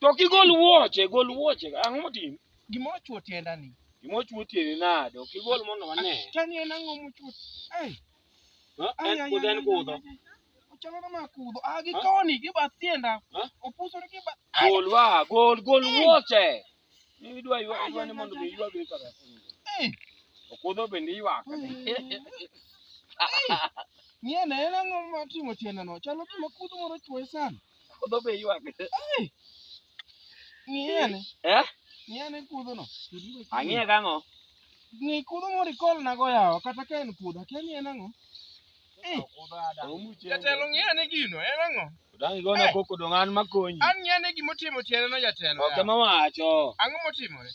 To ok igol wuoche, gol wuoche. Ang'o motimi? Gima ochuo tienda ni. Gima ochuo tiende nade? Ok igol mondo wane. Chani en ang'o mochuo? Ei, Ha? ai, En ai, kudho, ai, en ai, kudho. ai, ai. Ochalo na ma kudho. Ah, gi Ha? koni, gi bath tienda. Ha? Opusore gi bath. Ai, Gol wa, gol, gol wuoche. Ni idwa ywak idwa ni mondo mi ywak ni kaka. Okodho bende ywak. Ng'iye na en ang'o ma timo tiende no? Chalo gima kudho moro chwoye sana. Okodho be ywak. Ng'iye ne. Eh? Ng'iye ne kudho no. Ang'iye kang'o? Ng'i kudho moro ikol na go yawa kata ka en kudho. Akia ni en ang'o? Jatelo ng'e ane gino, en ang'o? Dang' igona Eh. koko dong' an makonyi. An ng'e ane gima otimo tiendeno jatelo. Ok ema wacho. Ang'o motimore?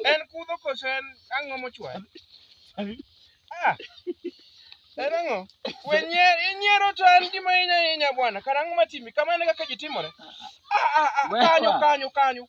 En kudho koso en ang'o mochwayo? Ah, En ang'o? We nyier, inyiero to en gima hinya hinya bwana. Kara ang'o matimi? Kama en kaka ji timore. Ah, ah, ah, Wewa. kanyo, kanyo, kanyo.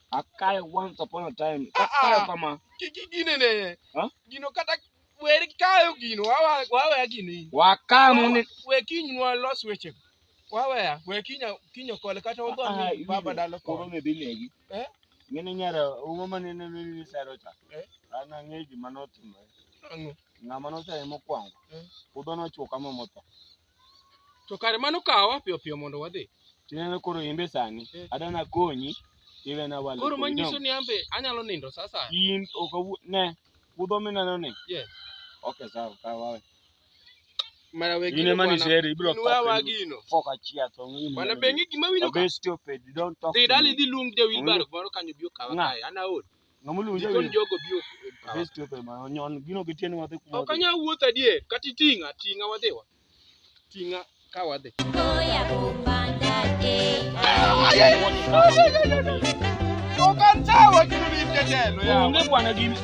Akae once upon a time. Ah, ah. Akae kama. Kiki gine ne. Ha? Gino kata wer kayo gino wawa wawe gini. Wakae mune. We kiny nwa los weche. Wawe we kinya kinyo kole kata ogo Ah, ni baba dalo Koro koro. ne dhi negi. Eh? Ng'ene nyara umo mane ne ne ne sero cha. Eh? An ang'e gima notimore. Ang'o? Ng'ama nochaye mokwongo. Eh. Puodho nochwo kama motho. To kare mano kawa piyo piyo mondo wadhi. Tineno koro imbe sani. Eh. Adana konyi. Iwe na wale. Koro manyiso ni ambe anyalo nindo sasa. In okawu ne. Kudho mineno ni. Yes. Okay sawa kawa. Mara wegi. Ine mani sheri ibro kwa. Nwa wagino. Foka chia to ngini. Bana bengi gima wino ka. Be stupid don't talk. Didali di lung de wilbar baro kanyo bio kawa. Ana ol. Ng'amulu Gikon jawi. jogo bio e power. Best wepe ma nyon gino gitieni wadhi kuma. Ok anyal wuotho adier, kata iting'a, ting'a wadhiwa. Ting'a ka wadhi. Goya kupanda eh. Onge bwana gini.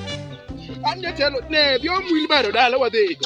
An jatelo, ne, dhi omwil baro dala wadhigo.